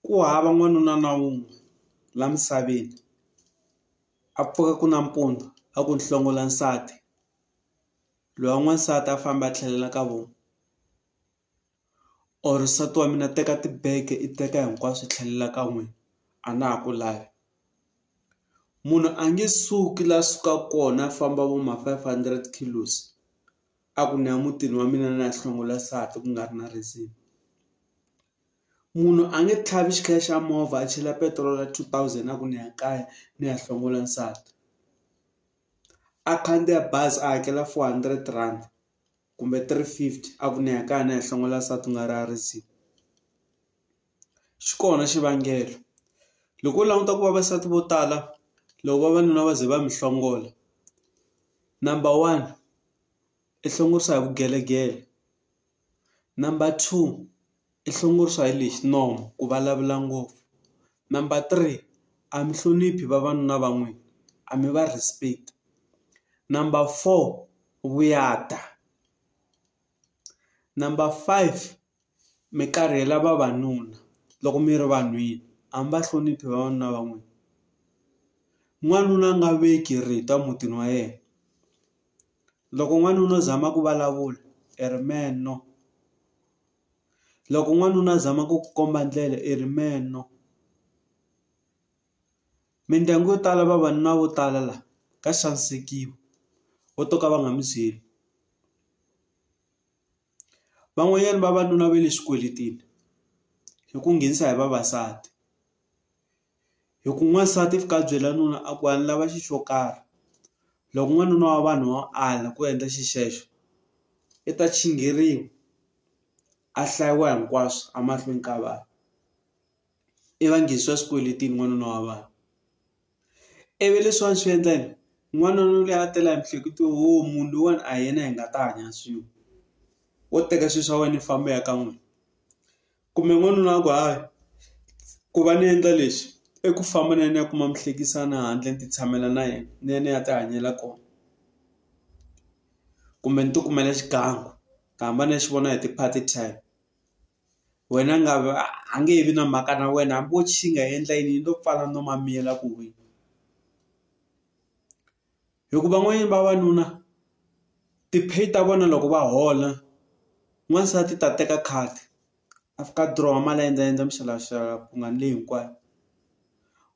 Ku hava n'wanuna na wun'we la misaveni a pfuka ku nampundzu a ku nhlongola nsati loyi wa n'wansati a famba a tlhelela ka vona or nsati wa mina teka tibege i teka hinkwaswo i tlhelela ka n'wina a na ha ku lavi munhu a nge suki la suka kona a famba vo ma five hundred kilos. a ku ni ya mutini wa mina ni ya hlongola nsati ku nga ri na reason munhu a nge tlhavi xikhale xa movha a chela petiroli ya two thousand a ku ni ya kaya ni ya hlongola nsati a khandziya bazi a hakela four hundred rand kumbe three fifty a ku ni ya kaya ni ya hlongola nsati ku nga ri na reason. xi kona xivangelo loko u languta ku vavasati vo tala loko vavanuna va ze va mi hlongola number one i hlongorisa hi vugelegele number two i hlongorisa hi lexi nomu ku vulavula ngopfu number three a mi hloniphi vavanuna va n'wina a mi va respect number four vuyada number five mi karihela vavanuna loko mi ri vanhwini a mi va hloniphi vavanuna va n'wina n'wanuna a nga veki rito emutini wa yena loko n'wanuna u zama ku vulavula i ri mehe no loko n'wanuna a zama ku komba ndlela i ri mehe no mindyangu yo tala vavanuna vo tala la ka xanisekiwa vo to ka va nga mi byeli. Van'wanyana vavanuna va le swikweletini hi ku nghenisa hi vavasati hi ku n'wansati fika a byela nuna a ku a ni lava xi xo karhi loko n'wanuna wa vanhu wa ala ku endla xi xexo i ta chingeriwa a hlayiwa hinkwaswo emahlweni ka vanhu i va nghenisa swikweletini n'wanuna wa vanhu. I vi leswi a swi endla yini? N'wanuna luya a tela hi miehleketo yo o munhu loyiwani a hi yena hi nga ta hanya swin'we. Wo teka swilo swa wena u famba u ya ka n'wina. Kumbe n'wanuna a ku hayi, ku va ni endla leswi, i ku famba ni ya ni ya kuma muhlekisani handle ni ti tshamela na yena, ni ya ni ya ti hanyela kona. Kumbe ni ti kumela xigangu, ni hamba ni ya xi vona hi ti-party time. wena nga va a nge he vi na mhaka na wena hambi wo xi nga endla yini yi lo pfala nomu a miyela ku huhwa hi ku van'wanyana vavanuna ti-pay ta vona loko va hola n'wansati ta teka khadi a fika a dirowa mali a endla endla mixavaxava ku nga ni leyi hinkwayo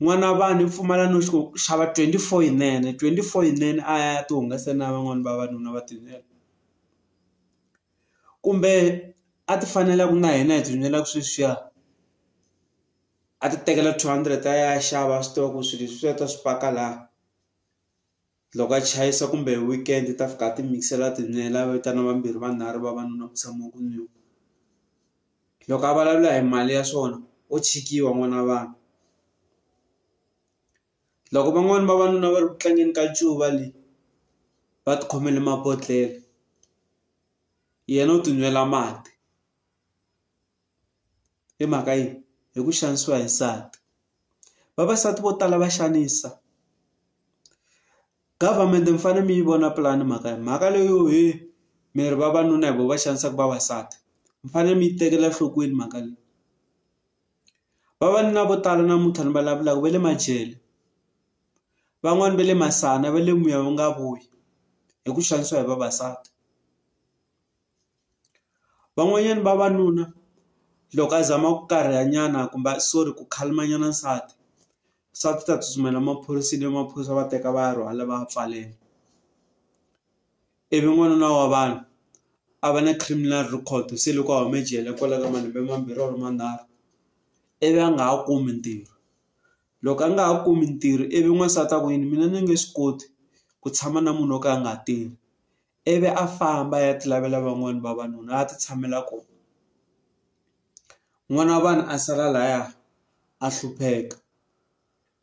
n'wana wa vanhu i pfumala no xi ku xava twenty four yinene twenty four yinene a ya ti hungasa na van'wani vavanuna va tintswelo. kumbe a ti fanela ku na hina hi ti nwela sweswiya a ti tekela two hundred a ya xava a swi tiva ku swilo leswiya u ta swi paka la loko a chayisa kumbe hi weekend u ta fika a ti mix-ela a ti nwela a vitana vambirhi vanharhu vavanuna ku tshama ku nwiwa loko a vulavula hi mali ya swona wo tshikiwa n'wana wa vanhu. Loko van'wani vavanuna va ri ku tlangeni ka ncuva le va ti khomele mabodhlele yena u ti nwela mati hi mhaka yini hi ku xanisiwa hi nsati vavasati vo tala va xanisa government mi fanele mi yi vona pulani mhaka ya mhaka leyo he mi ri vavanuna hi vo va xanisaka vavasati mi fanele mi yi tekela enhlokweni mhaka leyi. Vavanuna vo tala namuntlha ni vulavulaka va le majele van'wani va le masana va le moya wu nga vuyi hi ku xanisiwa hi vavasati van'wanyana vavanuna loko a zama ku karhala nyana kumbe a sorry ku khalima nyana nsati swa ku ta tsutsumela maphoriseni maphorisa va teka va ya rhwala va ya pfalela. ivi n'wanuna wa vanhu a va na criminal record se loko a hume jele kwalaya ka malembe mambirhi or manharhu ivi a nga ha kumi ntirho loko a nga ha kumi ntirho ivi n'wansati a ku yini mina ni nge swi koti ku tshama na munhu wo ka a nga tirhi ivi a famba a ya ti lavela van'wani vavanuna a ti tshamela kona n'wana wa vanhu a sala laya a hlupheka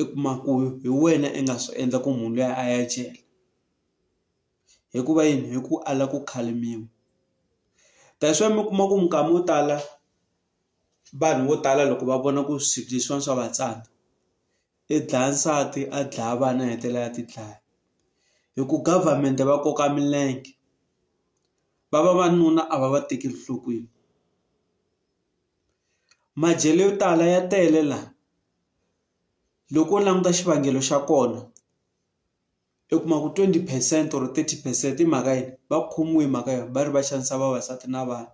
i kuma ku hi wena i nga swi endla ku munhu luya a ya jele. hikuva yini hi ku ala ku khalimiwa that's why mi kuma ku minkama yo tala vanhu vo tala loko va vona ku swilo leswiwani swa va tsandza i dlaya nsati a dlaya vana a hetelela a ti dlaya hi ku government va koka milenge va va vanuna a va va tekeli enhlokweni majele yo tala ya tele la loko u languta xivangelo xa kona. i kuma ku 20 percent or 30 percent i mhaka yini va khomiwe hi mhaka yona va ri va xanisa vavasati na vana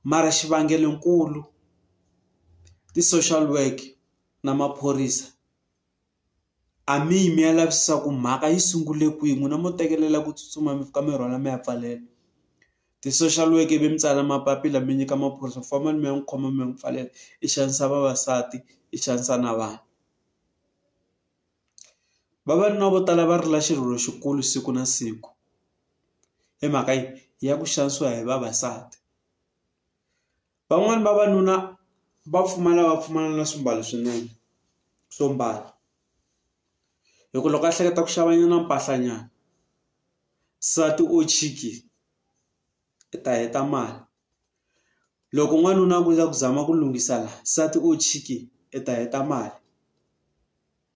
mara xivangelo nkulu ti-social work na maphorisa a mi yi mi ya lavisisa ku mhaka yi sungule kwihi n'wina mo tekelela ku tsutsuma mi fika mi rhwala mi ya pfalela ti-social work ivi mi tsala mapapila mi nyika maphorisa ku fambani mi ya n'wi khoma mi ya n'wi pfalela i xanisa vavasati i xanisa na vana. Vavanuna vo tala va rila xirilo xikulu siku na siku hi mhaka yi ya ku xanisiwa hi vavasati van'wani vavanuna va pfumala va pfumala na swimbalo swinene swo mbala hi ku loko a hleketa ku xava nyana mpahla nyana nsati o chiki i ta heta mali loko n'wanuna a ku za ku zama ku lunghisa la nsati o chiki i ta heta mali.